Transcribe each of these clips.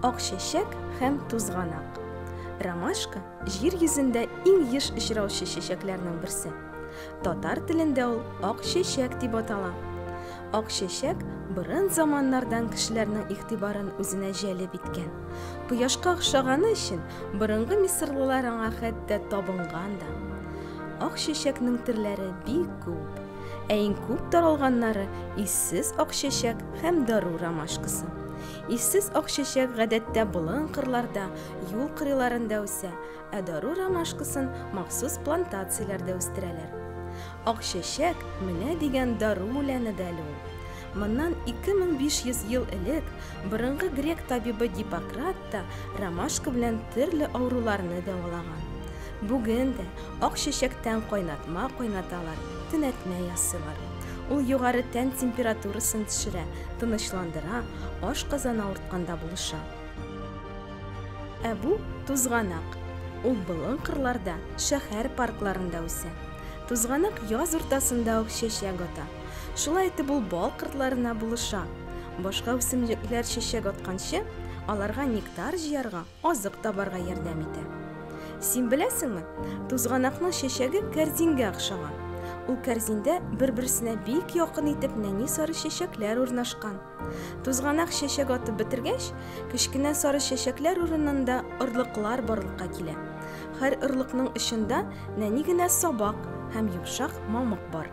Ак чәчәк һәм тузганак. Ромашка җир йөзендә иң еш очраучы чәчәкләрнең берсе. Татар телендә ул ак чәчәк дип атала. Ак чәчәк борын заманнардан кешеләрнең игътибарын үзенә җәлеп иткән. Кояшка охшаганы өчен Борынгы мисырлылар аңа хәтта табынган да. Ак чәчәкнең төрләре бик күп. Ә иң күп таралганнары иссез ак чәчәк һәм дару ромашкасы. Иссез ак чәчәк гадәттә болын кырларда, юл кырыйларында үсә, ә дару ромашкасын махсус плантацияләрдә үстерәләр. Ак чәчәк, менә дигән дару үләне дә әле ул. Моннан 2500 ел элек борынгы грек табибы Гиппократ вакытта ромашка белән төрле авыруларны дәвалаган. Бүген дә ак чәчәктән кайнатма кайнаталар, төнәтмә ясыйлар. Ул югары тән температурасын төшерә, тынычландыра, аш казан авыртканда булыша. Ә бу тузганак. Ул болын кырларда, шәһәр паркларында үсә. Тузганак яз уртасында ук чәчәк ата. Шулай итеп ул бал кыртларына булыша. Башка үсемлекләр чәчәк атканчы, аларга нектар җыярга, азык табарга ярдәм итә. Син беләсеңме, тузганакның чәчәге кәрзингә охшаган. Ул кәрзиндә бер-берсенә бик якын итеп нәни сары чәчәкләр урнашкан. Тузганак чәчәк атып бетергәч, кечкенә сары чәчәкләр урынында орлыклар барлыкка килә. Һәр орлыкның очында нәни генә сабак һәм йомшак мамык бар.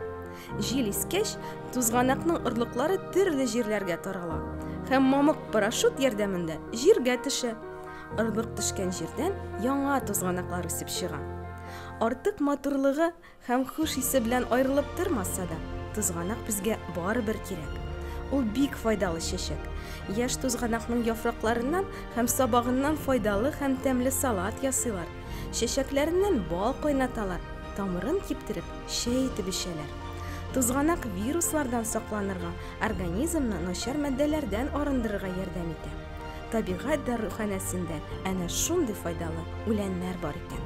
Җил искәч, тузганакның орлыклары төрле җирләргә тарала һәм мамык парашют ярдәмендә җиргә төшә. Орлык төшкән җирдән яңа тузганаклар үсеп чыга. Артык матурлыгы Һәм хуш исе белән аерылып тормаса да, тузганак безгә барыбер кирәк. Ул бик файдалы чәчәк. Яшь тузганакның яфракларыннан һәм сабагыннан файдалы һәм тәмле салат ясыйлар. Чәчәкләреннән бал кайнаталар, тамырын киптереп, чәй итеп эчәләр. Тузганак вируслардан сакланырга, организмны начар матдәләрдән арындырырга ярдәм итә. Табигать даруханәсендә әнә шундый файдалы үләннәр бар икән.